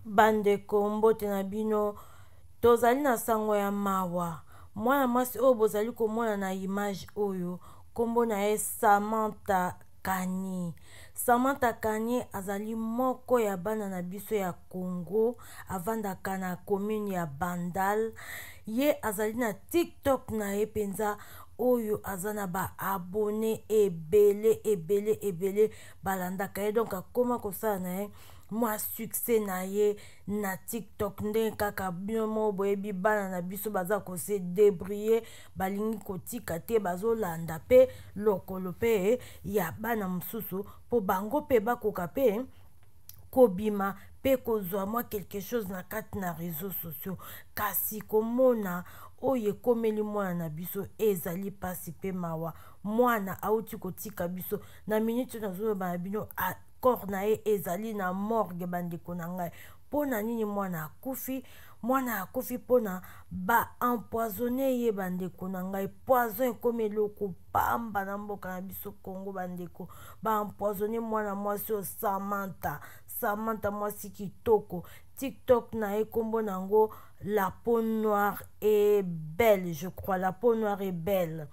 Bandeko, mbote na bino. Tozali na sango ya mawa. Mwana mwasi oyo bozali komona na image oyo, kombo na ye Samantha Kani. Samantha Kani azali moko ya bana na biso ya Congo, avandaka na commune ya Bandal. Ye azali na TikTok na ye penza oyo aza na ba abonnes ebele ebele ebele. balandaka ye donc akoma kosala na ye mwa succès na ye na tiktok ndenge kaka bino moko boyebi bana na biso baza kose debrie balingi kotika te bazolanda mpe lokolo mpe ya bana mosusu mpo bango mpe bakoka mpe kobima mpe kozwa mwa quelque chose na kati na réseau sociaux kasi komona oyo ekomeli mwana na biso ezali mpasi mpe mawa mwana auti kotika biso na minute oyo nazoloba na bino corps na ye ezali na morgue bandeko na ngai mpo na nini mwana akufi mwana akufi mpo na baempoisonne ye bandeko na ngai poison ekomi eloko pamba na mboka na biso congo bandeko baempoisonne mwana mwasi oyo samanta samanta mwasi kitoko tiktok na ye nkombo na yango la peau noire et belle je crois la peau noire et belle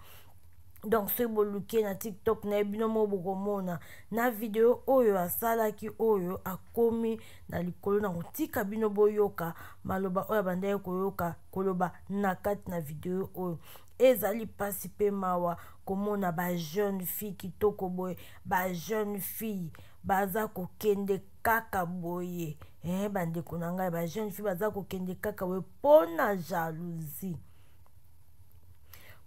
donc soki boluki na tiktok na ye bino moko bokomona na video oyo asalaki oyo akomi na likolo na kotika bino boyoka maloba oyo abandaki koyoka koloba na kati na video oyo ezali mpasi mpe mawa komona bajeune fille kitoko boye bajeune fille baza kokende kaka boye eh, bandeko na ngai bajeune fille baza kokende kaka boye mpo na jalousie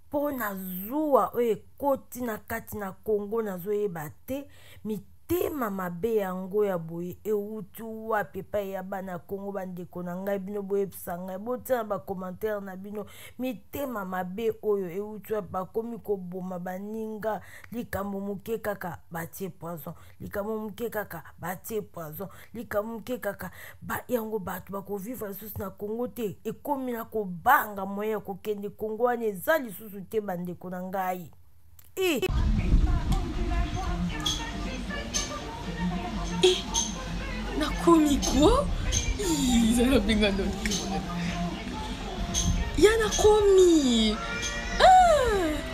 mpo na zuwa oyo ekoti na kati na congo nazoyeba te mitema mabe yango ya boye euti wapi epai ya bana ya congo bandeko na ngai bino boyebisa ngai botia na bacommentaire na bino mitema mabe oyo euti wapi bakomi koboma baninga likambo moke kaka batie poison likambo moke kaka batie poison likambo moke kaka ba, yango bato bakovivre lisusu na congo te ekomi na kobanga moye ya kokende congo wana eza lisusu te bandeko na ngai e nakomi ko ezalabenga ndo ya nakomi ah!